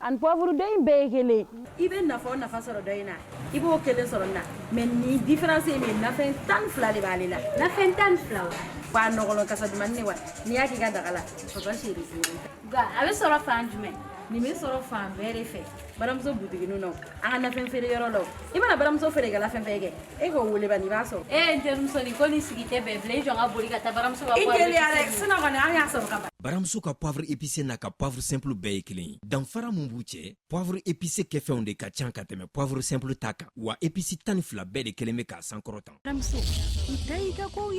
ani pɔvuru dɔ in bɛɛ ye kelen i bɛ nafa o nafa sɔrɔ dɔ in na i b'o kelen sɔrɔ nin na mɛ nin diferansi ye min nafɛn tan fila de b'ale la nafɛn tan fila wa nɔgɔlɔ kasa dumani ne wa n'i y'a k'i ka daga la papa seri nka a bɛ sɔrɔ fan jumɛn nin bɛ sɔrɔ fan bɛɛ de fɛ baramuso butiginu na an ka nafɛn feere yɔrɔ la i mana baramuso feerekɛla fɛn fɛn kɛ e k'o wele ban i b'a sɔrɔ e n terimuso nin ko ni sigi tɛ bɛn bilen i jɔ n ka boli ka taa baramuso ka i teliya dɛ sinon kɔni an y'a sɔrɔ ka ban baramuso ka poivre épicé n'a ka poivre simple bɛɛ ye kelen ye danfara min b'u cɛ poivre épicé kɛfɛnw de ka can ka tɛmɛ poivre simple ta kan wa épices tan ni fila bɛɛ de kɛlen bɛ k'a sankɔrɔtan baramuso i ta y'i ka kow ye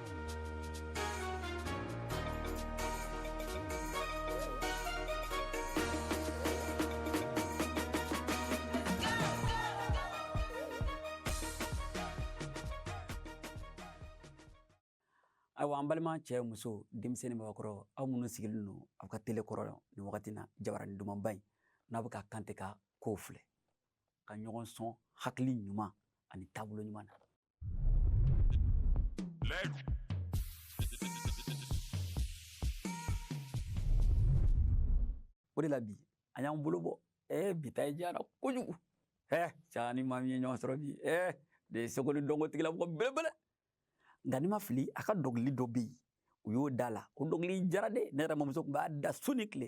ayiwa an balima cɛ muso denmisɛnnin mɔgɔkɔrɔ aw minnu sigilen don aw ka tele kɔrɔ nin wagati na jabarani dumanba in n'aw bɛ ka kante ka kow filɛ ka ɲɔgɔn sɔn hakili ɲuman ani taabolo ɲuman na O de la bi an y'an bolo bɔ ɛɛ bi ta in diyara kojugu ɛɛ an ni maa min ye ɲɔgɔn sɔrɔ bi ɛɛ de ye seko ni dɔnko tigilamɔgɔ belebele nka ni n ma fili a ka dɔnkili dɔ bɛ yen u y'o da la o dɔnkili diyara dɛ ne yɛrɛ mamuso tun b'a da su ni tile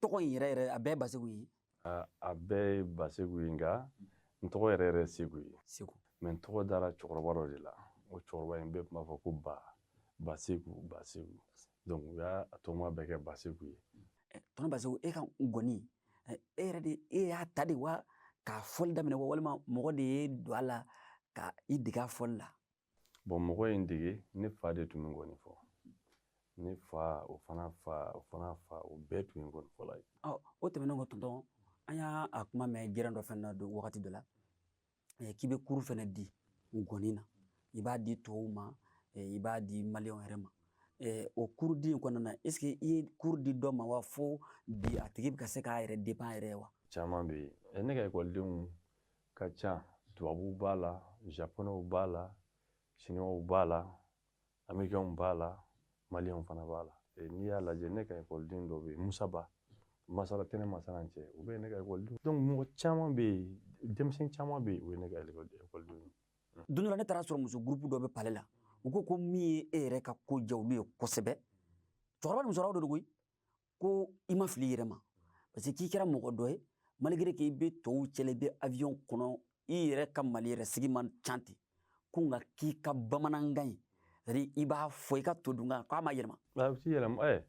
tɔgɔ in yɛrɛ yɛrɛ a bɛɛ baseku ye a bɛɛ ye baseku ye nka n tɔgɔ yɛrɛ yɛrɛ seku ye seku mɛ n tɔgɔ dara cɛkɔrɔba dɔ de la o cɛkɔrɔba in bɛɛ tun b'a fɔ ko ba baseku baseku donc u y'a tɔgɔma bɛɛ kɛ baseku ye tɔntɔn baseku e ka nkɔni e yɛrɛ de e y'a ta de wa k'a fɔli daminɛ wa walima mɔgɔ de y'i don a la ka i dege a fɔli la bɔn mɔgɔ ye n dege ne fa de tun bɛ nkɔni fɔ ne fa o fana fa o fana fa o bɛɛ tun ye nkɔni fɔla ye o tɛmɛnen kɔ tɔntɔn an y'a a kuma mɛn kɛrɛ dɔ fana na don wagati dɔ la k'i bɛ kuru fana di nkɔni na i b'a di tɔw ma i b'a di maliyɛnw yɛrɛ ma Eh, o kurudi in kɔnɔna na est ce que i ye kuru di dɔ ma wa fo bi a tigi bɛ ka se k'a yɛrɛ depan yɛrɛ wa caman bɛ yen eh, ne ka ekɔlidenw ka ca tubabuw b'a la japonɛw b'a la siniwaw b'a la amerikɛnw b'a la maliyɛnw fana b'a la n'i y'a lajɛ ne ka ekɔliden dɔ bɛ yen musaba masala tɛ ne masala cɛ u bɛ ne ka ekɔliden donc mɔgɔ caman bɛ yen denmisɛn caman bɛ yen o ye ne ka ekɔliden ye don dɔ la ne taara sɔrɔ muso gurupu dɔ bɛ pale la u ko ko min ye e yɛrɛ ka ko diya olu ye kosɛbɛ cɛkɔrɔba ni musokɔrɔba dɔ de koyi ko i ma fili i yɛrɛ ma parce que k'i kɛra mɔgɔ dɔ ye malgré que i bɛ tɔw cɛla i bɛ avion kɔnɔ i yɛrɛ ka mali yɛrɛ sigi man ca ten ko nka k'i ka bamanankan ye c'est i b'a fɔ i ka todunkan k'a ma yɛlɛma a bɛ t'i yɛlɛma ɛ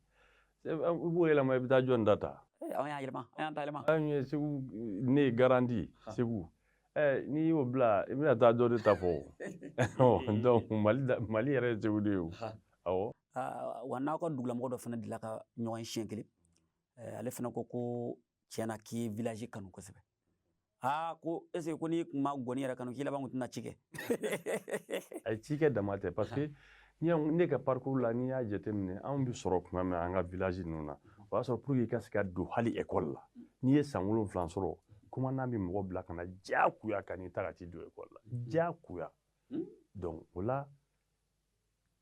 i b'o yɛlɛma i bɛ taa jɔni ta ta an y'a yɛlɛma an y'an ta yɛlɛma an ye segu de ye grand segu ɛ n'i y'o bila i bɛna taa dɔ de ta fɔ donc mali yɛrɛ ye segu de ye o awɔ wa n'aw ka dugulamɔgɔ dɔ fana delila ka ɲɔgɔn ye siɲɛ kelen ale fana ko ko tiɲɛ na k'i y'i village kanu kosɛbɛ aa ko est-ce que n'i kun ma gɔni yɛrɛ kanu k'i laban kun tɛna ci kɛ ayi cikɛ dama tɛ parce que ne ka parcours la n'i y'a jateminɛ anw bɛ sɔrɔ tuma min an ka village ninnu na o y'a sɔrɔ pour que i ka se ka don hali école la n'i ye san wolonwula sɔrɔ commandant bɛ mɔgɔ bila ka na diyagoya ka n'i ta ka t'i don école la diyagoya donc o la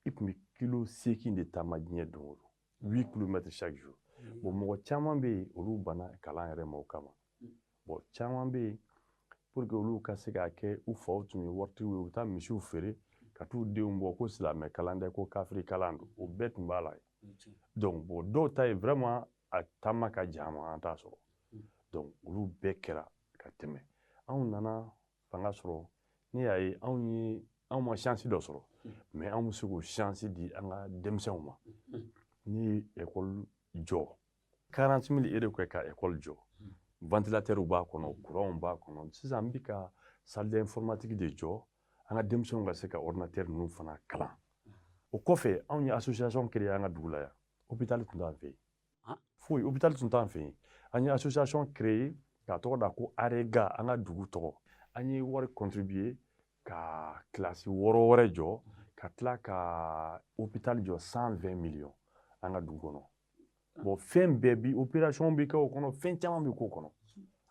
i tun bɛ kilo seegin de taama diɲɛ don o don huit kilomètres chaque jour mm. bon mɔgɔ caman bɛ yen olu banna kalan yɛrɛ ma o kama mm. bon caman bɛ yen pour que olu ka se k'a kɛ u faw tun ye waritigiw ye u bɛ taa misiw feere ka t'u denw bɔ ko silamɛ kalan tɛ ko kafiri kalan don o bɛɛ tun b'a la donc bon dɔw ta ye vraiment a taama ka jan ma an t'a sɔrɔ donc olu bɛɛ kɛra ka tɛmɛ anw nana fanga sɔrɔ ne y'a ye anw ye anw ma shansi dɔ sɔrɔ mais anw bɛ se k'o shansi di an ka denmisɛnw ma n ye ekɔli jɔ quarante-six millions de kɛ ka ekɔli jɔ vantilatɛriw b'a kɔnɔ kuranw b'a kɔnɔ sisan an bɛ ka salle d'informatique de jɔ an ka denmisɛnw ka se ka ɔridinatɛri ninnu fana kalan o kɔfɛ anw ye asosiyasɔn créer an ka dugu la yan opitali tun t'an fɛ yen hôpital tun t'an fɛ yen an ye association créer k'a tɔgɔ da ko arega an ka dugu tɔgɔ an ye wari contribuer ka kilasi wɔɔrɔ wɛrɛ jɔ ka tila ka hôpital jɔ 120 millions an ka dugu kɔnɔ bon fɛn bɛɛ bi opération bɛ kɛ o kɔnɔ fɛn caman bɛ k'o kɔnɔ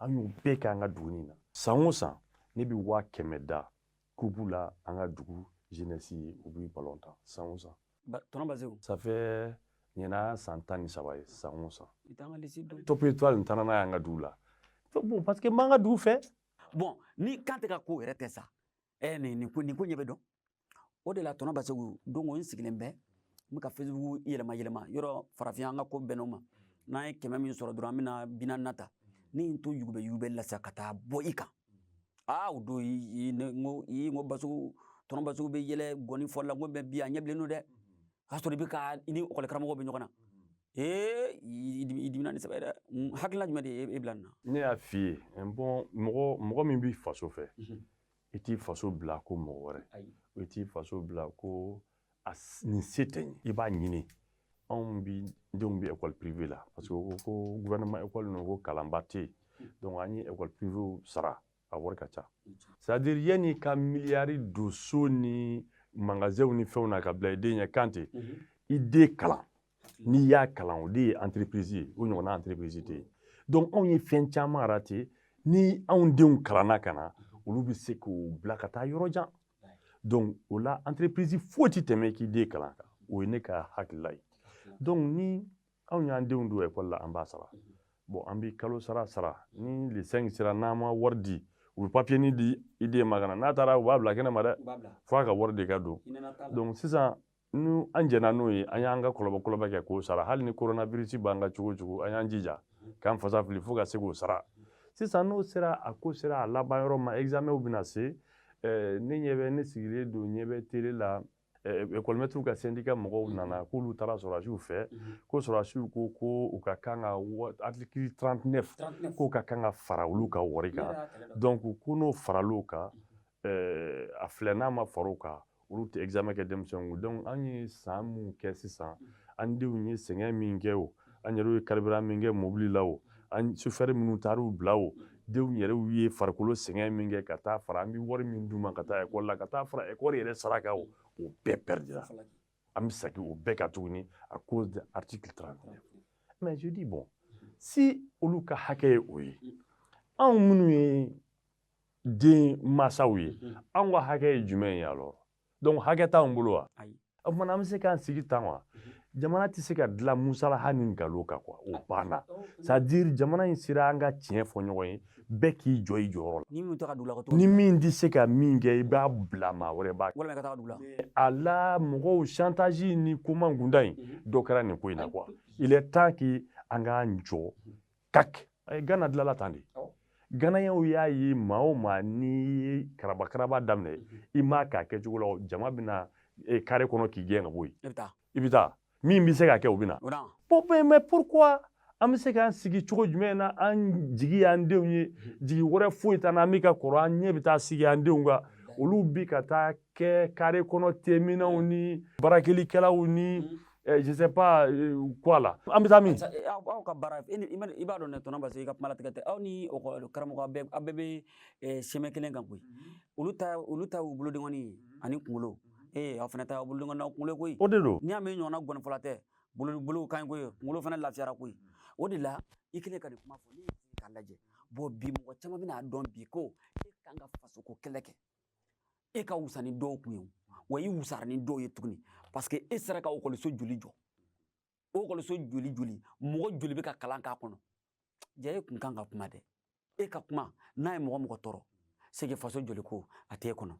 an y'u bɛɛ kɛ an ka dugu in na san o san ne bɛ waa kɛmɛ da kupu la an ka dugu jeunesse ye u bɛ ballon tan san o san tɔnɔ basi ça fait ɲinan san tan ni saba ye san o san top étoile n taara n'a y'an ka dugu la bon parce que n b'an ka dugu fɛ bon ni kan tɛ ka ko yɛrɛ tɛ sa ɛ nin nin ko nin ko ɲɛ bɛ dɔn o de la tɔnɔ basegu don dɔ n sigilen bɛ n bɛ ka facebook yɛlɛma yɛlɛma yɔrɔ farafinya an ka ko bɛnn'o ma n'an ye kɛmɛ min sɔrɔ dɔrɔn an bɛna bi naani ta ne ye n to yugubɛ yugubɛ la sa ka taa bɔ i kan aa o don n ko n ko basegu tɔnɔ basegu bɛ yɛlɛ gɔni fɔli la n ko mais bi a ɲɛ bilennen don dɛ o y'a sɔrɔ i bɛ ka i ni ekɔli karamɔgɔ bɛ ɲɔgɔn na ee i dimina ni sɛbɛ dɛ hakilina jumɛn de ye e bila nin na ne y'a f'i ye bon mɔgɔ mɔgɔ min b'i faso fɛ i t'i faso bila kɔ mɔgɔ wɛrɛ i t'i faso bila kɔ a nin se tɛ n ye i b'a ɲini anw bɛɛ denw bɛ ekɔli pirive la parce que ko ko gouvernement ekɔli ninnu ko kalanba tɛ yen donc an ye ekɔli pirivew sara a wari ka ca c'est à dire yanni i ka miliyari don so ni magasinw ni fɛnw na ka bila i den ɲɛ kan ten i den kalan n'i y'a kalan o de ye entreprise ye o ɲɔgɔnna entreprise tɛ yen donc anw ye fɛn caman rate ni anw denw kalanna ka na olu bɛ se k'u bila ka taa yɔrɔ jan donc o la entreprise foyi tɛ tɛmɛ k'i den kalan kan o ye ne ka hakilila ye donc ni anw y'an denw don ekɔli la an b'a sara bon an bɛ kalo sara sara ni le 5 sera n'an ma wari di u bɛ papiyenin di i den ma ka na n'a taara u b'a bila kɛnɛ ma dɛ fo a ka wari de ka don donc sisan nu an jɛnna n'o ye an y'an ka kɔlɔbɔkɔlɔbɛ kɛ k'o sara hali ni koronabirisi b'an kan cogo o cogo an y'an jija k'an fasa fili fo ka se k'o sara sisan n'o sera a ko sera a laban yɔrɔ ma examɛnw bɛna se eh, ne ɲɛ bɛ ne sigilen don n ɲɛ bɛ tele la ekɔlimɛtiriw eh, ka sendika mɔgɔw mhm. nana k'olu taara sɔrɔdasiw fɛ mhm. ko sɔrɔdasiw ko ko u ka kan ka artikili 39 k'o ka kan ka fara olu ka wari kan donc ko n'o faral'o kan mhm. ɛɛ a filɛ n'a ma far'o kan olu tɛ examen kɛ denmisɛnw kun donc an ye san minnu kɛ sisan an denw ye sɛgɛn min kɛ o an yɛrɛw ye carburant min kɛ mobili la o an chauffeur minnu taar'u bila o denw yɛrɛw ye farikolo sɛgɛn min kɛ ka taa fara an bɛ wari min d'u ma ka taa école la ka taa fara école yɛrɛ sara kan o o bɛɛ perdra an bɛ segin o bɛɛ kan tuguni à cause de article 39 mais je dis bon si olu ka hakɛ ye o ye anw minnu ye den masaw ye mhm. an ka hakɛ ye jumɛn ye alors donc hakɛ t'anw bolo wa o tuma an bɛ se k'an sigi tan wa mhm. jamana tɛ se ka dilan musalaha ni nkalon kan quoi o banna oh, c'est à dire jamana in sera an ka tiɲɛ fɔ ɲɔgɔn ye bɛɛ k'i jɔ i jɔyɔrɔ la ni min tɛ ka dugu la ka ni min tɛ se ka min kɛ i b'a bila maa wɛrɛ b'a kɛ walima ka taa dugu la a la mɔgɔw chantage ni ko man kunda in mhm. dɔ kɛra nin ko in na quoi il est temps que an k'an jɔ kaki eh, gana dilala tan de ganayaw y'a ye maa o maa n'i ye karabakaraba daminɛ mhm. i m'a k'a kɛcogo la jama bɛ na eh, kare kɔnɔ k'i gɛn ka bɔ yen i bɛ taa min bɛ se k'a kɛ o bɛ na mais pourquoi an bɛ se k'an sigi cogo jumɛn na an jigi y'an denw ye mhm. jigi wɛrɛ foyi t'an na an bɛ ka kɔrɔ an ɲɛ bɛ taa sigi an denw kan olu bi ka taa kɛ kare kɔnɔ teminnaw ni barakelikɛlaw ni mhm. Eh, je sais pas euh, quoi la an bɛ taa min eh, aw ka baara i b'a dɔn ne tɔnɔ parce que i ka kuma latigɛ tɛ aw ni karamɔgɔ aw bɛɛ aw bɛɛ bɛ eh, sɛmɛ kelen kan koyi mhm. olu ta olu ta y'u bolodenkɔni ye mhm. ani kunkolo mhm. ee aw fana ta y'aw bolodenkɔni n'aw kunkolo koyi o de don n'i y'a mɛn ɲɔgɔnna ngɔnifɔla tɛ bolo bolo kan koyi kunkolo fana lafiyara koyi o de la i kɛlen ka nin kuma fɔ n'i ye k'a lajɛ bon bi mɔgɔ caman bɛna a dɔn bi ko e kan ka fasoko kɛlɛ kɛ e ka wusa ni dɔw kun ye wa i wusara ni dɔw ye tuguni parce que e sera ka ekɔliso joli jɔ o ekɔliso joli joli mɔgɔ joli bɛ ka kalan k'a kɔnɔ ja e kun kan ka kuma dɛ e ka kuma n'a ye mɔgɔ mɔgɔ tɔɔrɔ c'est que faso joli ko a t'e kɔnɔ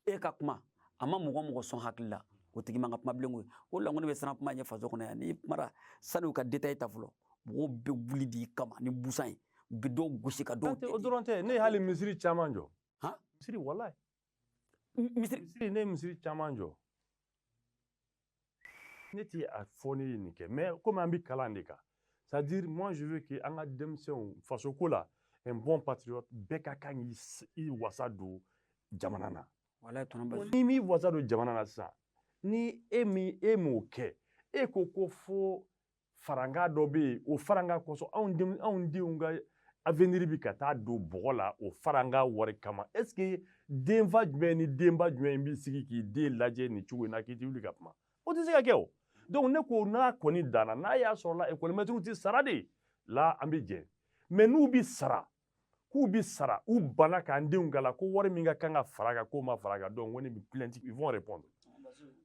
e ka kuma a ma mɔgɔ mɔgɔ sɔn hakili la o tigi man kan ka kuma bilen koyi o la ko ne bɛ siran kuma ɲɛ faso kɔnɔ yan n'i kumara sani u ka detaye ta fɔlɔ mɔgɔw bɛ wuli d'i kama ni busan ye u bɛ dɔw gosi ka dɔw o dɔrɔn tɛ ne ye hali misiri caman jɔ han misiri walayi misiri misiri ne ye misiri caman jɔ ne ti a fɔ ne ye nin kɛ mais komi an bɛ kalan de kan c'est à dire moi je veux que an ka denmisɛnw faso ko la un bon patriote bɛɛ ka kan k'i wasa don jamana na walayi tɔnɔ basi n'i m'i wasa don jamana na sisan ni e min e m'o kɛ e ko ko fo farankan dɔ bɛ yen o farankan kosɔn anw denw anw denw ka aveniri bi ka taa don bɔgɔ la o farankan wari kama ɛseke denfa jumɛn ni denba jumɛn b'i sigi k'i den lajɛ nin cogo in na k'i ti wuli ka kuma o tɛ se ka kɛ o donc ne ko n'a kɔni danna n'a y'a sɔrɔ la ekɔlimɛtiriw tɛ sara de la an bɛ jɛn mɛ n'u bɛ sara k'u bi sara u bana k'an denw kalan ko wari min ka kan ka fara kan k'o ma fara kan donc ko nin bi plainte ils vont répondre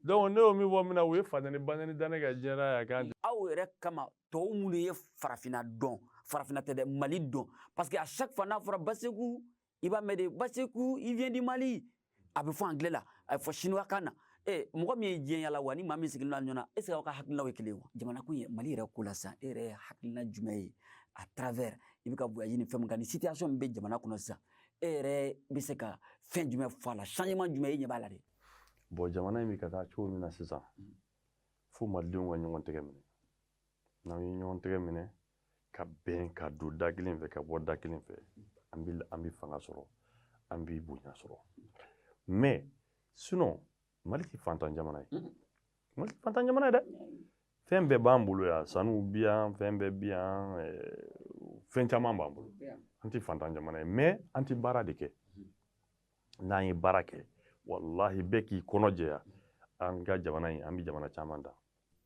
donc ne y'o min fɔ min na u ye fatani banani da ne ka jɛra ya kan aw yɛrɛ kama tɔw minnu ye farafina dɔn farafina tɛ dɛ mali don parce que à chaque fois n'a fɔra baseku i b'a mɛn de baseku il vient du mali a bɛ fɔ angilɛ la a bɛ fɔ siniwakan na ee mɔgɔ min ye diɲɛ yala wa ni maa min sigilen don ɲɔgɔn ɛseke aw ka hakilinaw ye kelen wa jamana ko ye mali yɛrɛ ko la sisan e yɛrɛ hakilina jumɛn ye à travers i bɛ ka voyage ni fɛn min kan ni situation min bɛ jamana kɔnɔ sisan e yɛrɛ bɛ se ka fɛn jumɛn fɔ a la changement jumɛn e ɲɛ b'a la de bon jamana in bɛ ka taa cogo min na sisan fo malidenw ka ɲɔgɔn tɛgɛ minɛ n'an ye ɲɔgɔn tɛgɛ minɛ ka bɛn ka don da kelen fɛ ka bɔ da kelen fɛ an bɛ an bɛ fanga sɔrɔ an bɛ bonya sɔrɔ mɛ sinɔn mali tɛ fantan jamana ye mali tɛ fantan jamana ye dɛ fɛn bɛɛ b'an bolo yan sanuw bi yan fɛn bɛɛ bi yan fɛn caman b'an bolo an tɛ fantan jamana ye mɛ an tɛ baara de kɛ n'an ye baara kɛ walahi bɛɛ k'i kɔnɔ jɛya an ka jamana in an bɛ jamana caman dan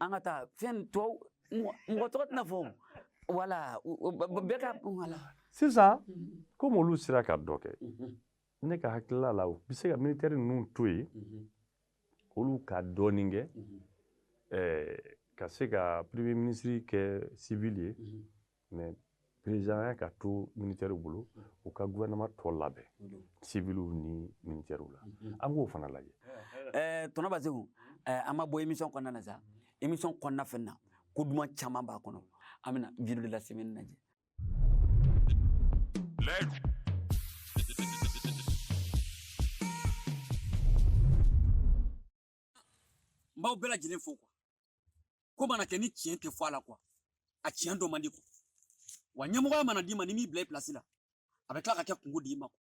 an ka taa fɛn tɔ mɔgɔ tɔgɔ tɛna fɔ wala bɛɛ ka wala sisan mm-hmm. komi olu sera ka dɔ kɛ mm-hmm. ne ka hakilila la u bɛ se ka militɛri ninnu to yen mm-hmm. olu ka dɔɔni kɛ eh, ka se ka premier ministre kɛ civil ye mɛ perezidanya ka to minitɛriw bolo u ka guvɛnɛma tɔ labɛn siviliw ni minitɛriw la an k'o fana lajɛ eh, tɔnɔ baseku eh, an ma bɔ emisɔn kɔnɔna na sa emisɔn kɔnɔna fɛn na ko duman caman b'a kɔnɔ an bɛna video de la semaine lajɛ n b'aw bɛɛ lajɛlen fo kuwa ko mana kɛ ni tiɲɛ tɛ fɔ a la kuwa a tiɲɛ dɔ man di kuwa wa ɲɛmɔgɔya mana d'i ma n'i m'i bila i pilasi la a bɛ tila ka kɛ kunko d'i ma kuwa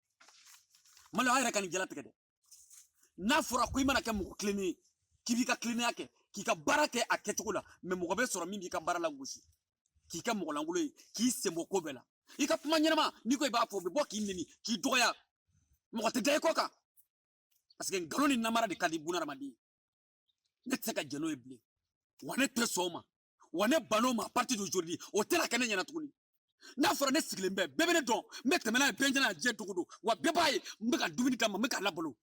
mali aw yɛrɛ ka nin jalatigɛ dɛ n'a fɔra ko i mana kɛ mɔgɔ tilennen ye k'i b'i ka tilennenya kɛ k'i ka baara kɛ a kɛcogo la mɛ mɔgɔ bɛ sɔrɔ min b'i ka baara lagosi k'i kɛ mɔgɔ lankolon ye k'i senbɔ ko bɛɛ la i ka kuma ɲɛnama n'i ko i b'a fɔ o bɛ bɔ k'i neni k'i dɔgɔya mɔgɔ tɛ da i kɔ kan paseke nkalon ni namara de ka di bunadamaden ne tɛ se ka jɛn n'o ye bilen wa ne tɛ sɔn o ma wa ne ban'o ma partir d'aujourd'hui o tɛna kɛ ne ɲɛna tuguni n'a fɔra ne sigilen bɛ bɛɛ bɛ ne dɔn n bɛ tɛmɛ n'a ye bɛɛ ɲɛna diɲɛ dogo don wa bɛɛ b'a ye n bɛ ka dumuni d'a ma n bɛ k'a labalo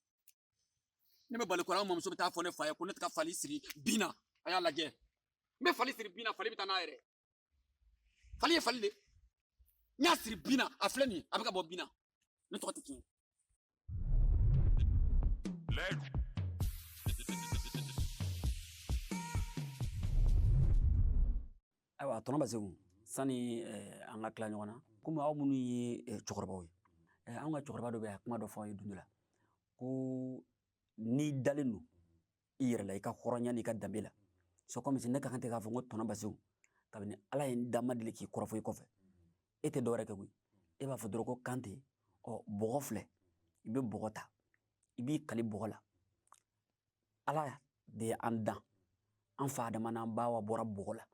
ne bɛ fali kɔrɔ an mamuso bɛ taa fɔ ne fa ye ko ne tɛ ka fali siri bin na a y'a lajɛ n bɛ fali siri bin na fali bɛ taa n'a yɛrɛ fali ye fali de n y'a siri bin na a filɛ nin ye a bɛ ka bɔ bin na Ne tɔgɔ tɛ tiɲɛ ye. Layidu. ayiwa tɔnɔ baseku sani eh, an ka tila ɲɔgɔn na komi aw minnu ye eh, cɛkɔrɔbaw ye eh, an ka cɛkɔrɔba dɔ bɛ a kuma dɔ fɔ an ye don dɔ la ko n'i dalen don i yɛrɛ la i ka hɔrɔnya n'i ka danbe la c'est comme si ne ka kan tɛ k'a fɔ n ko tɔnɔ baseku kabini ala ye n dan n ma deli k'i kɔrɔfɔ i kɔfɛ e tɛ dɔwɛrɛ kɛ koyi e b'a fɔ dɔrɔn ko kan ten ɔ bɔgɔ filɛ i bɛ bɔgɔ ta i b'i kali bɔgɔ la ala de ye an dan an fa adama n'an ba awa bɔra bɔgɔ la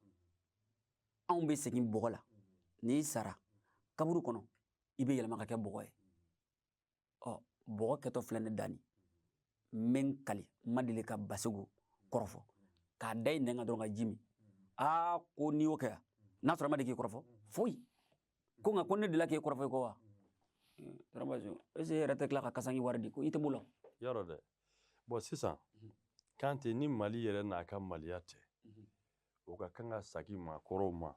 anw bɛ segin bɔgɔ la n'i sara kaburu kɔnɔ i bɛ yɛlɛma ka kɛ bɔgɔ ye ɔ bɔgɔ kɛtɔ filɛ ne dani n bɛ n kali n ma deli ka baseku kɔrɔfɔ k'a da i nɛn kan dɔrɔn ka ji min aa ko n'i y'o kɛ yan n'a sɔrɔ a ma deli k'i kɔrɔfɔ foyi ko nka ko ne delila k'e kɔrɔfɔ i kɔ wa tarabazo ese e yɛrɛ tɛ tila ka kasanke wari di ko i tɛ b'o lɔyɔrɔ dɛ bɔn sisan kan tɛ ni mali yɛrɛ n'a ka maliya tɛ o ka kan ka sagin maakɔrɔw ma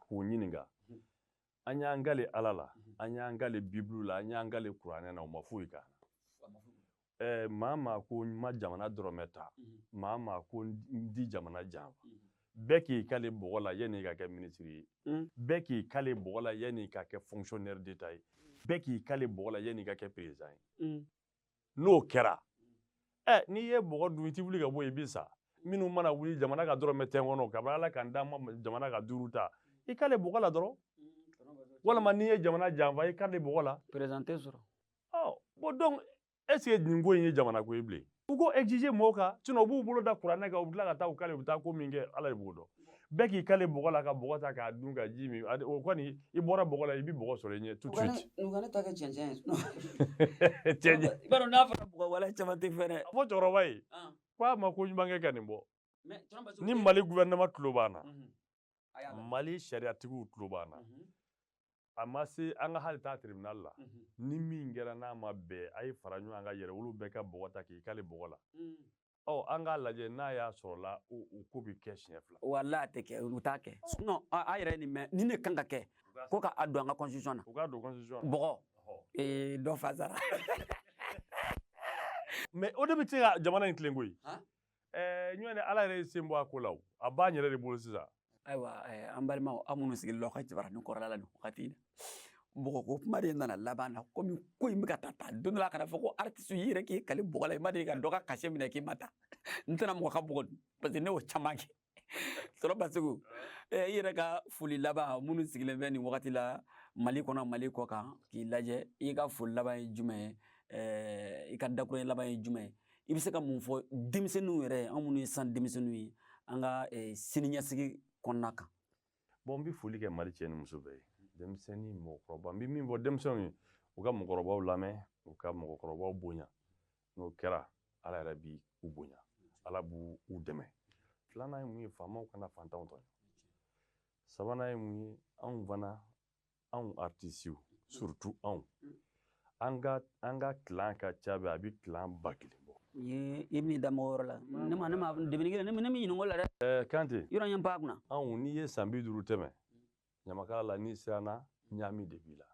k'u ɲininka an y'an kale ala la mhm. an y'an kale bibulu la an y'an kale kuranɛ na o ma foyi k'an na eh, maa maa ko n ma jamana dɔrɔmɛ ta mhm. maa maa ko n tɛ jamana janfa mhm. bɛɛ k'i kale bɔgɔ la yanni ka kɛ minisiri ye mm. bɛɛ k'i kale bɔgɔ la yanni ka kɛ fonctionnaire d'etat ye bɛɛ k'i kale bɔgɔ la yanni ka kɛ président ye mm. n'o kɛra ɛ n'i ye bɔgɔ dun i ti wuli ka bɔ yen i bi sa minnu mana wuli jamana ka dɔrɔmɛ tɛ n kɔnɔ kabini ala ka n da n ma jamana ka duuru ta i kale bɔgɔ la dɔrɔn walima n'i ye jamana janfa i kale bɔgɔ la perezante sɔrɔ bon donc est ce que nin ko in ye jamana ko ye bilen u k'o exiger mɔgɔw kan sinon u b'u bolo da kuranɛ kan u bila ka taa u kale u bɛ taa ko min kɛ ala de b'o dɔn bɛɛ k'i kale bɔgɔ la ka bɔgɔ ta k'a dun ka ji min o kɔni i bɔra bɔgɔ la i bɛ bɔgɔ sɔrɔ i ɲɛ tout de suite u ka ne ta kɛ cɛncɛn ye cɛncɛn i b'a dɔn n'a fɔra bɔgɔ wala caman tɛ fɛn dɛ a fɔ cɛkɔrɔba ye ko a ma ko ɲuman kɛ ka nin bɔ ni mali gouvernement tulo b'an na mali sariyatigiw tulo b'an na a ma se an ka hali taa tribunal la ni min kɛra n'a ma bɛɛ a ye fara ɲɔgɔn kan yɛrɛwolo bɛɛ ka bɔgɔ ta k'i kale bɔgɔ la ɔ an k'a lajɛ n'a y'a sɔrɔla o o ko bɛ kɛ siɲɛ fila wala a tɛ kɛ u t'a kɛ sinon a a yɛrɛ ye nin mɛn nin de kan ka kɛ ko ka a don an ka constitution na u k'a don constitution na bɔgɔ Ɔhɔ. ee dɔ fa sara mais o de bɛ se ka jamana in tilen koyi Han? ɛɛ sinon ala yɛrɛ y'i sen bɔ a ko la o a b'an yɛrɛ de bolo sisan ayiwa an balimaw aw minnu sigilen don aw ka jabaranin kɔrɔla la nin wagati in na bɔgɔ ko kuma de nana laban na komi ko in bɛ ka taa taa don dɔ la kana fɔ ko artiste i yɛrɛ k'i kali bɔgɔ la i ma deli ka dɔ ka cachet minɛ k'i ma taa n tɛna mɔgɔ ka bɔgɔ dun parce que ne y'o caman kɛ kɔrɔ baseku i yɛrɛ ka foli laban minnu sigilen bɛ nin wagati la mali kɔnɔ mali kɔ kan k'i lajɛ i ka foli laban ye jumɛn ye i ka dakurunɲɛ laban ye jumɛn ye i bɛ se ka mun fɔ denmisɛnninw yɛrɛ an minnu ye san denmisɛnninw ye an ka eh, siniɲɛsigi kɔnɔna kan bon n bɛ foli kɛ mali cɛ ni muso bɛɛ ye denmisɛnnin mɔgɔkɔrɔba n bɛ min fɔ denmisɛnw ye u ka mɔgɔkɔrɔbaw lamɛn u ka mɔgɔkɔrɔbaw bonya n'o kɛra ala yɛrɛ b'u bonya ala b'u dɛmɛ filanan ye mun ye faamaw kana fantanw tɔɲɔ sabanan ye mun ye anw fana anw artisiw surtout anw an ka an ka clan ka ca dɛ a bɛ clan ba kelen bɔ i bɛ da mɔgɔ yɔrɔ la ne ma ne ma debini kelen ne min ɲininko la dɛ eh, kante yɔrɔ ɲɛ ba kunna anw n'i ye san bi duuru tɛmɛ ɲamakala la n'i siranna ɲaami de b'i la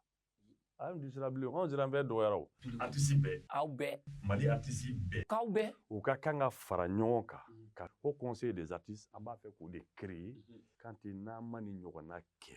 an tɛ siran bilen anw siran bɛɛ dɔgɔyara o artisi bɛɛ aw bɛɛ mali artisi bɛɛ k'aw bɛɛ u ka kan ka fara ɲɔgɔn kan mm. ka haut conseil des artistes an b'a fɛ k'o de créer mm-hmm. kante n'an ma ni ɲɔgɔnna kɛ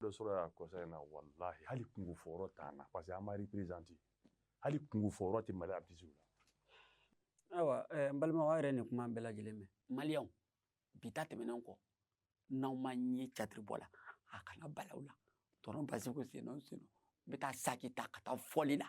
dɔ sɔrɔ y'a conseil in na walahi hali kunko fɔyɔrɔ t'an na parce que an ma représenté hali kunko fɔyɔrɔ tɛ mali artisiw la ayiwa eh, n balimaw aw yɛrɛ nin kuma bɛɛ lajɛlen mɛn maliyɛnw bi ta tɛmɛnen kɔ n'aw ma n ye catiri bɔ la a kana bala aw la kɔrɔ baseku sen o sen n bɛ taa saki ta ka taa fɔli la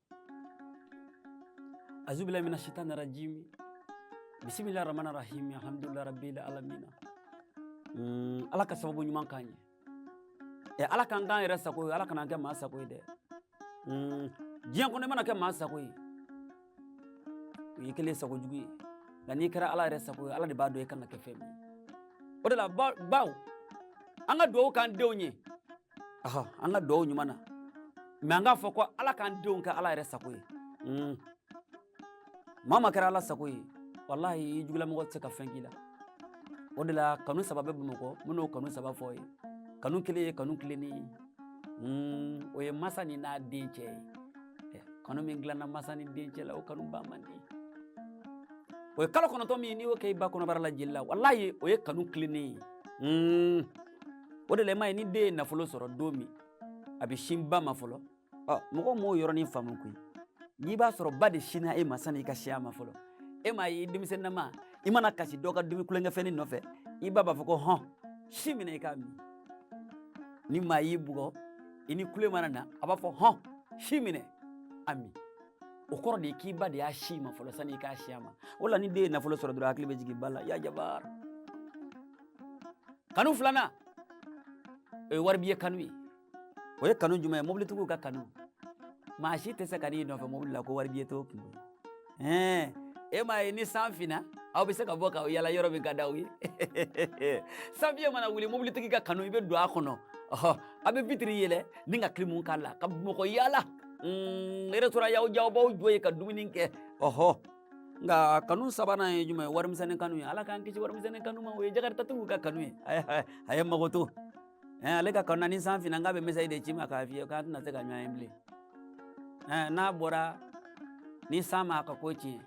azubilayi mina sitani rajimi bisimilayi ramani rahimi alhamdulilayi rabbil alamina mm, ala ka sababu ɲuman k'an ye ɛ ala k'an k'a yɛrɛ sago ye ala kan'an kɛ maa sago ye dɛ mm, diɲɛ kɔnɔ i mana kɛ maa sago ye o y'i kelen sago jugu ye nka n'i kɛra ala yɛrɛ sago ye ala de b'a dɔn i kan ka kɛ fɛn min ye o de la baw an ka dugawu k'an denw ye an ka dugawu ɲuman na mɛ an k'a fɔ ko ala k'an denw kɛ ala yɛrɛ sago ye hmm. maa ma kɛra ala sago ye walahi jugulamɔgɔ tɛ se ka fɛn k'i la o de la kanu saba bɛ bamakɔ minnu kanu saba f'aw ye kanu kelen ye kanu tilennen ye hmm, o ye masa ni n'a den cɛ ye eh, kanu min dilanna masa ni den cɛ la o kanu ban man di o ye kalo kɔnɔntɔn min n'i y'o kɛ i ba kɔnɔbara la jeli la walahi o ye kanu tilennen ye hmm. o de la i m'a ye ni den ye nafolo sɔrɔ don min a bɛ sin ba ma fɔlɔ ɔ mɔgɔ m'o yɔrɔnin faamu koyi n'i b'a sɔrɔ ba de sinna e ma sani i ka sin a ma fɔlɔ e m'a ye denmisɛnninama i mana kasi dɔ ka dumi tulonkɛfɛnnin nɔfɛ i ba b'a fɔ ko hɔn sin minɛ i k'a min ni maa y'i bugɔ i ni kule mana na a b'a fɔ hɔn sin minɛ a min o kɔrɔ de ye k'i ba de y'a sin i ma fɔlɔ sani i ka sin a ma o la ni den ye nafolo sɔrɔ dɔrɔn hakili bɛ jigin ba la ya jabar kanu filanan o ye waribiye kanu ye o ye kanu jumɛn ye mobilitigiw ka kanu maa si tɛ se ka n'i nɔfɛ mobili la ko waribiye t'o kun ɛɛ e m'a ye ni san finna aw bɛ se ka bɔ ka yala yɔrɔ min ka d'aw ye sanfiɲɛ mana wuli mobilitigi ka kanu i bɛ don a kɔnɔ ɔhɔ a bɛ vitiri yɛlɛn ni ka kilimu k'a la ka mɔgɔ yala mm, resitoran y'aw diya aw b'aw jɔ yen ka dumuni kɛ ɔhɔ nka kanu sabanan ye jumɛn ye warimisɛnni kanu ye ala k'an kisi warimisɛnni kanu ma o ye jakaritigiw ka kanu ye a ye makoto ale ka kanu ni san finna k'a bɛ mesazi de ci i ma k'a f'i ye k'a tɛna se ka ɲɔgɔn ye bilen n'aw bɔra ni san m'aw ka ko tiɲɛ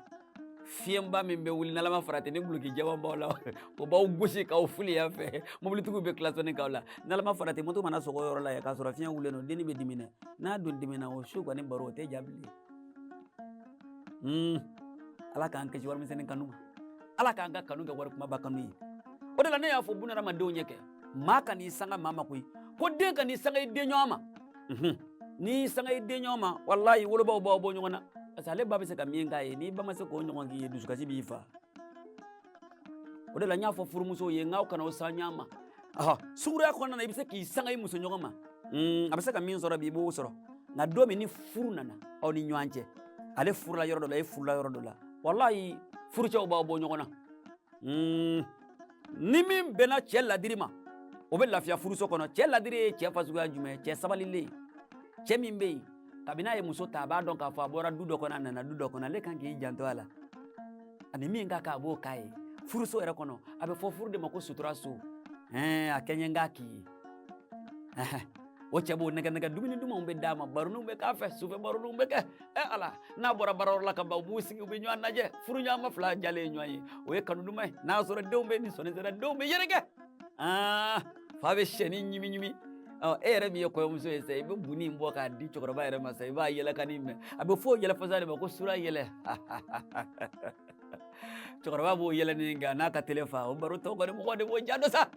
fiɲɛba min bɛ wuli n'alama farati ni duloki jɛman b'aw la o b'aw gosi k'aw fili yan fɛ mobilitigiw bɛ kilasɔnni k'aw la n'alama farati moto mana sɔgɔ yɔrɔ la yan k'a sɔrɔ fiɲɛ wulilen don dennin bɛ dimi dɛ n'a don dimina o su kɔni baro o tɛ diya bilen ala k'an kisi warimisɛnni kanu ala k'an ka kanu kɛ wari kumaba kanu ye o de la ne y'a fɔ buna hadamadenw ɲɛ ko maa kan'i sanga maa ma koyi ko den kan'i sanga i den ɲɔgɔn ma n'i sanga i den ɲɔgɔn ma walayi wolobaw b'aw bɔ ɲɔgɔn na parce que ale ba bɛ se ka min k'a ye n'i ba ma se k'o ɲɔgɔn k'i ye dusukasi b'i faa o de la n y'a fɔ furumusow ye k'aw kan'aw sanga ɲɔgɔn ma sungurunya kɔnɔna na i bɛ se k'i sanga i muso ɲɔgɔn ma a bɛ se ka min sɔrɔ bi i b'o sɔrɔ nka don min ni furu nana aw ni ɲɔgɔn cɛ ale furula yɔrɔ dɔ la e furula yɔrɔ dɔ la walayi furucɛw b'aw bɔ ɲɔgɔn na ni min bɛnna cɛ ladiri ma o bɛ lafiya furuso kɔnɔ cɛ ladiri ye cɛ fasuguya jumɛn ye cɛ sabalilen cɛ min bɛ yen kabini a ye muso ta a b'a dɔn k'a fɔ a bɔra du dɔ kɔnɔ a nana du dɔ kɔnɔ ale kan k'i janto a la ani min ka kan a b'o k'a ye furuso yɛrɛ kɔnɔ a bɛ fɔ furu de ma ko sutura so ɛɛ a kɛɲɛ k'a k'i ye o cɛ b'o nɛgɛ nɛgɛ dumuni dumanw bɛ d'a ma baroniw bɛ k'a fɛ sufɛ baroniw bɛ kɛ ɛ ala n'a bɔra baarayɔrɔ la ka ban u b'u sigi u bɛ ɲɔgɔn lajɛ furuɲɔgɔnma fila jalen ye ɲɔgɔn ye o ye kanu duman ye n'a sɔrɔ denw bɛɛ nisɔndiyara denw bɛ yɛrɛkɛ aa fa bɛ sɛni ɲimi ɲimi e yɛrɛ min ye kɔɲɔmuso ye sa i bɛ buni in bɔ k'a di cɛkɔrɔba yɛrɛ ma sa i b'a yɛlɛkanni mɛn a bɛ fɔ yɛlɛ fasɔn de ma ko sura yɛlɛ cɛkɔrɔba b'o yɛlɛ ni nka n'a ka tele fa o baro tɔ kɔni mɔgɔ de b'o diya dɔn sa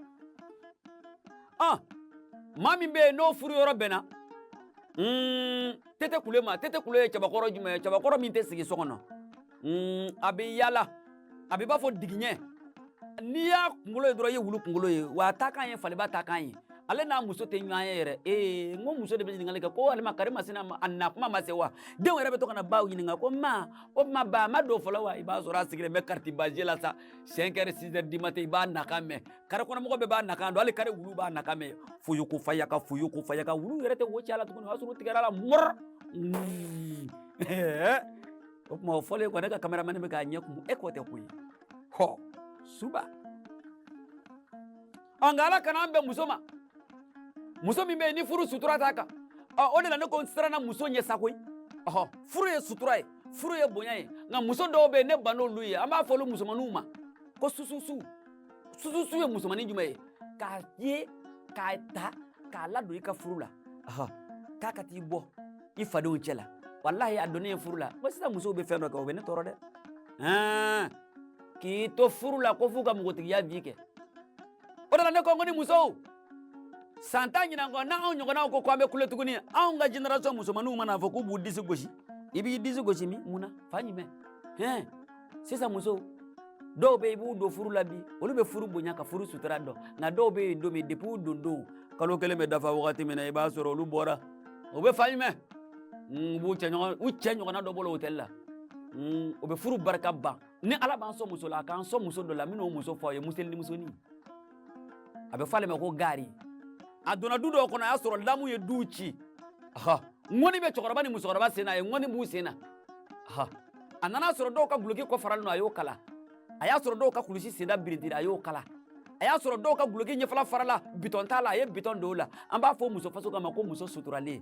ɔ maa min bɛ yen n'o furu yɔrɔ bɛnna tete kule ma tete kule ye cɛbakɔrɔ jumɛn ye cɛbakɔrɔ min tɛ sigi so kɔnɔ mm, a bɛ yaala a bɛ bɔ fo dugujɛ n'i y'a kunkolo ye dɔrɔn i ye wulu kunkolo ye wa a ta kan ye faliba ta kan ye ale n'a muso tɛ ɲɔgɔn ye yɛrɛ ee n ko muso de bɛ ɲininkali kɛ ko walima karimasina a na tuma ma se wa denw yɛrɛ bɛ to ka na baw ɲininka ko ma o tuma ba ma don fɔlɔ wa i b'a sɔrɔ a sigilen bɛ kariti baje la sa siyɛn kɛra sizɛri di matɛn i b'a nakan mɛn kare kɔnɔmɔgɔ bɛɛ b'a nakan dɔn hali kare wulu b'a nakan mɛn foyo ko faya ka foyo ko faya ka wulu yɛrɛ tɛ wo cɛ a la tuguni o y'a sɔrɔ u tigɛra a la mɔrɔ o tuma o fɔlen kɔ ne ka kameramani bɛ k'a ɲɛ kumu e k'o tɛ ko ye hɔ suba ɔ nka ala kana an bɛn muso ma muso min bɛ yen ni furu sutura t'a kan ɔ o de la ne ko n siranna muso ɲɛ sa koyi ɔhɔ furu ye sutura ye furu ye bonya ye nka muso dɔw bɛ yen ne ban n'olu ye an b'a fɔ olu musomaninw ma ko sususu sususu ye musomanin jumɛn ye k'a ye k'a ta k'a ladon i ka furu la k'a k'a t'i bɔ i fadenw cɛ la walahi a donnen furu la nka sisan musow bɛ fɛn dɔ kɛ o bɛ ne tɔɔrɔ dɛ k'i to furu la ko f'u ka npogotigiya vi kɛ o de la ne ko n ko ni musow san tan ɲinan kɔ n'anw ɲɔgɔnnaw ko ko an bɛ kule tuguni anw ka generation musomanninw man'a fɔ k'u b'u disi gosi i b'i disi gosi min mun na fan jumɛn hɛn sisan musow dɔw bɛ i b'u don furu la bi olu bɛ furu bonya ka furu sutura dɔn nka dɔw bɛ yen don min depi u don don kalo kelen bɛ dafa wagati min na i b'a sɔrɔ olu bɔra u bɛ fan jumɛn u b'u cɛ ɲɔgɔn u cɛ ɲɔgɔnna dɔ bolo hotɛli la u bɛ furu barika ban ni ala b'an sɔn muso la a k'an sɔn muso dɔ la minnu muso fɔ a ye miseli ni musonin a bɛ fɔ ale ma ko gari a donna du dɔw kɔnɔ a y'a sɔrɔ lamu ye du ci ŋɔni bɛ cɛkɔrɔba ni musokɔrɔba sen na a ye ŋɔni b'u sen na a nana a sɔrɔ dɔw ka guloki kɔ faralen don a y'o kala a y'a sɔrɔ dɔw ka kulusi senda birintira a y'o kala a y'a sɔrɔ dɔw ka guloki ɲɛfɛla farala bitɔn t'a la a ye bitɔn don o la an b'a fɔ muso fasɔn ka ma ko muso suturalen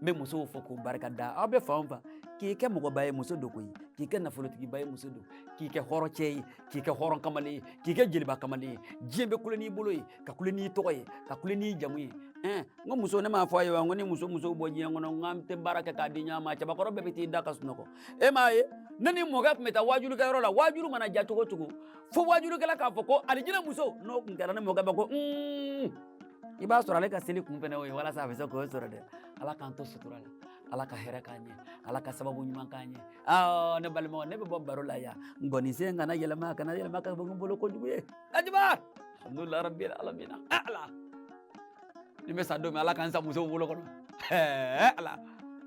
n bɛ musow fo k'u barika da aw bɛ fan fan k'i kɛ mɔgɔba ye muso don koyi k'i kɛ nafolotigiba ye muso don k'i kɛ hɔrɔn cɛ ye k'i kɛ hɔrɔn kamalen ye k'i kɛ jeliba kamalen ye diɲɛ bɛ kule n'i bolo ye ka kule n'i tɔgɔ ye ka kule n'i jamu ye ɛn n ko muso ne m'a fɔ aw ye wa n ko ni muso musow bɔ diɲɛ kɔnɔ n k'an tɛ baara kɛ k'a di ɲɔgɔn ma cɛbakɔrɔ bɛɛ bɛ t'i da ka sunɔgɔ e m'a ye ne ni mɔkɛ tun bɛ taa waajulikɛyɔrɔ la waajuli mana diya cogo o cogo fo waajulikɛla k'a fɔ ko alijinɛ musow n'o tun kɛra ne mɔkɛ bɛ ko un i b'a sɔrɔ ale ka seli kun fɛnɛ o ye walasa a bɛ se k'o sɔrɔ dɛ ala k'an to sutura la ala ka hɛrɛ k'an ɲɛ ala ka sababu ɲuman k'an ɲɛ aa ne balimaw ne bɛ bɔ baro la yan ngɔninsen kana yɛlɛma kana yɛlɛma ka bɔ n bolo kojugu ye ajiba alhamdulilayi rabbil alamina ala n'i bɛ sa don min ala k'an sa musow bolo kɔnɔ ɛɛ ala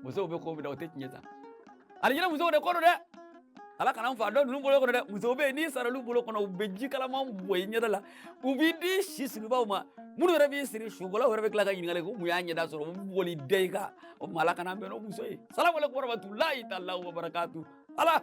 musow bɛ ko min na o tɛ tiɲɛ sa alijinɛ musow de ko don dɛ ala kan'an faga dɔ ninnu bolo kɔnɔ dɛ muso bɛ yen n'i sara olu bolo kɔnɔ u bɛ ji kalaman bɔn i ɲɛda la u b'i di su siribaw ma minnu yɛrɛ b'i siri sukolaw yɛrɛ bɛ tila ka ɲininkali ko mun y'a ɲɛda sɔrɔ u bɛ boli da i kan o tuma ala kan'an bɛn n'o muso ye salamu aleykum warahmatulahi taala wa barakatu ala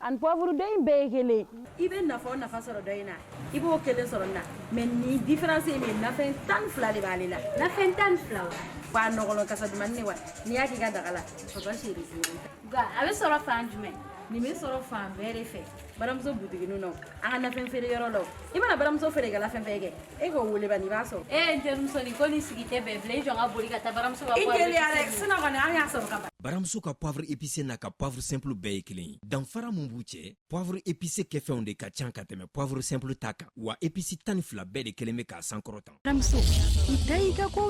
ani poivre dɔ in bɛɛ ye kelen ye i bɛ nafa o nafa sɔrɔ dɔ in na i b'o kelen sɔrɔ nin na mais nin différence ye min ye nafɛn tan ni fila de b'ale la nafɛn tan ni fila wa wa nɔgɔlɔ kasa dumani ne wa n'i y'a k'i ka daga la papa chéri nka a bɛ sɔrɔ fan jumɛn nin bɛ sɔrɔ fan bɛɛ de fɛ baramuso butiginu na an ka nafɛn feere yɔrɔ la i mana baramuso feerekɛla fɛn fɛn kɛ e ko wele bani b'a sɔrɔ e ye terimuso ni ko ni sigi tɛ bɛn bilen i jɔ n ka boli ka taa baramuso ka i teliya dɛ sinon kɔni an y'a sɔrɔ ka ban baramuso ka poivre épicé n'a ka poivre simple bɛɛ ye kelen ye danfara min b'u cɛ poivre épicé kɛfɛnw de ka ca ka tɛmɛ poivre simple ta kan wa épices tan ni fila bɛɛ de kɛlen bɛ k'a sankɔrɔta baramuso i da y'i ka kow